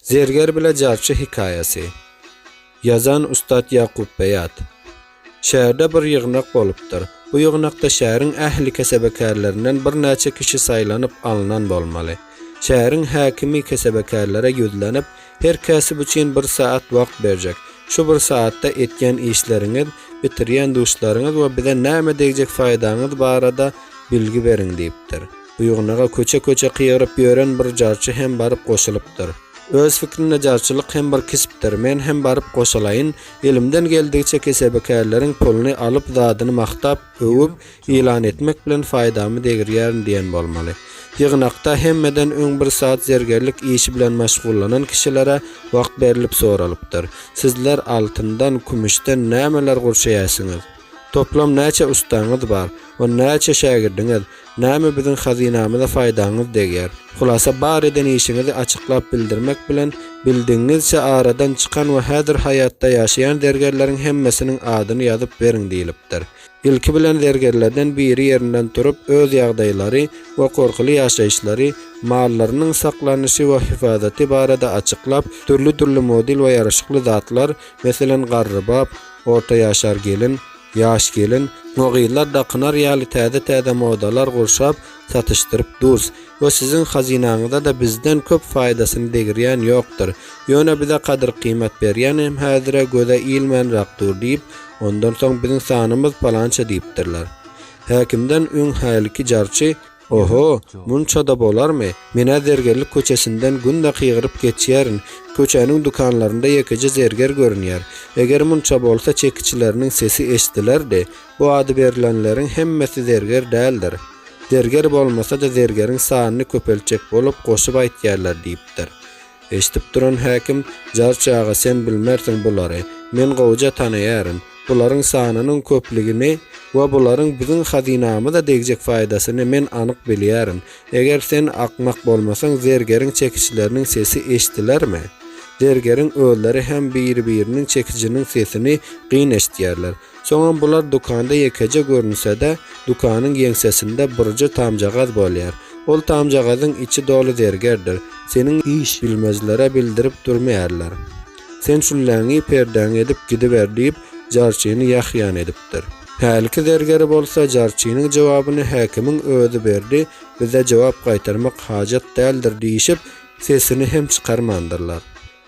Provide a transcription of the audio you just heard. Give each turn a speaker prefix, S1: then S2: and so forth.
S1: Zerger bile jarçy hekaýasy. Ýazan ussat Ýakup Beýat. Şäherde bir ýygnak bolupdyr. Bu ýygnakda şäheriň ähli kesebekärlerinden birnäçe kişi saýlanyp alnan bolmaly. Şäheriň häkimi kesebekärlere ýüzlenip, Her käsip üçin bir saat wagt berjek. Şu bir saatda etýän işleriňiz, bitirýän duşlaryňyz we bize näme degjek faýdaňyz barada bilgi beriň diýipdir. Ýygnaga köçe-köçe kygyryp ýören bir jarçy hem baryp goşulypdyr. Öz fikrinde jarçylyk hem bir kesipdir, men hem baryp goşalaýyn, elimden geldigiçe kesebikärleriň puluny alyp zadyny magtap, öwüp, ýylan etmek bilen faýdamy degirýärin diýen bolmaly. Ýygnakda hemmeden öň bir saz zergerlik işi bilen maşgullanan kişilere wagt berlip soralypdyr, Sizler altyndan, kümüşden nämeler gurşaýasyňyz? Toplam näçe ustaňyz bar? On näçe şägirdiňiz? Näme biziň hazynamyza faýdaňyz degýär? Hulasa bar eden işiňizi açyklap bildirmek bilen, bildigiňizçe aradan çykan we häzir haýatda ýaşaýan zergerleriň hemmesiniň adyny ýazyp beriň diýlipdir. Ilki bilen zergerlerden biri ýerinden turup öz ýagdaýlary we gorkuly ýaşaýyşlary, mallarynyň saklanyşy we hyfazaty barada açyklap, dürli-dürli model we ýaraşykly zatlar, meselem, garrybap, orta ýaşar gelin, ýaş gelin we gyzlar dakynar ýaly täze-täze modalar gurşap, satyşdyryp durs we siziň hazynaňyza-da bizden köp faýdasyny degirýän ýokdur. Ýöne bize gadyr-gyýmat berýänem häzire göze ilmänrak dur diýip, ondan soň biziň sanymyz palança diýipdirler. Häkimden öň hälki jarçy. Oho, munça-da bolarmy? Men-ä Zergerlik köçesinden günde kygyryp geçýärin, köçäniň dükanlarynda ýekeje zerger görünýär. Eger munça bolsa çekiçileriniň sesi eşdilerdi. Bu ady berlenleriň hemmesi zerger däldir. Zerger bolmasa-da zergeriň sanyny köpeltjek bolup goşup aýtýarlar diýipdir. Eşidip duran häkim, Jarçy aga, sen bilmersiň bulary. Men gowuja tanaýaryn. Bularyň sanynyň köplügini we bularyň biziň hazynamyza degjek faýdasyny men anyk bilýärin. Eger sen akmak bolmasaň, zergeriň çekişleriniň sesi eşdilermi? Zergeriň özleri hem biri-biriniň çekijiniň sesini gyn eşidýärler. Soňam bular dükanda ýekeje görünse-de, dükanyň ýeňsesinde birje tamjagaz bolýar. Ol tamjagazyň içi doly zergerdir. Seniň iş bilmezlere bildirip durmaýarlar. Sen şülläňi perdäňe edip gidiber diýip, jarçyny ýahýan edipdir. Hälki zergeri bolsa jarçynyň jogabyny häkimiň özi berdi, bize jogap gaýtarmak hajat däldir diýşip, sesini hem çykarmandyrlar.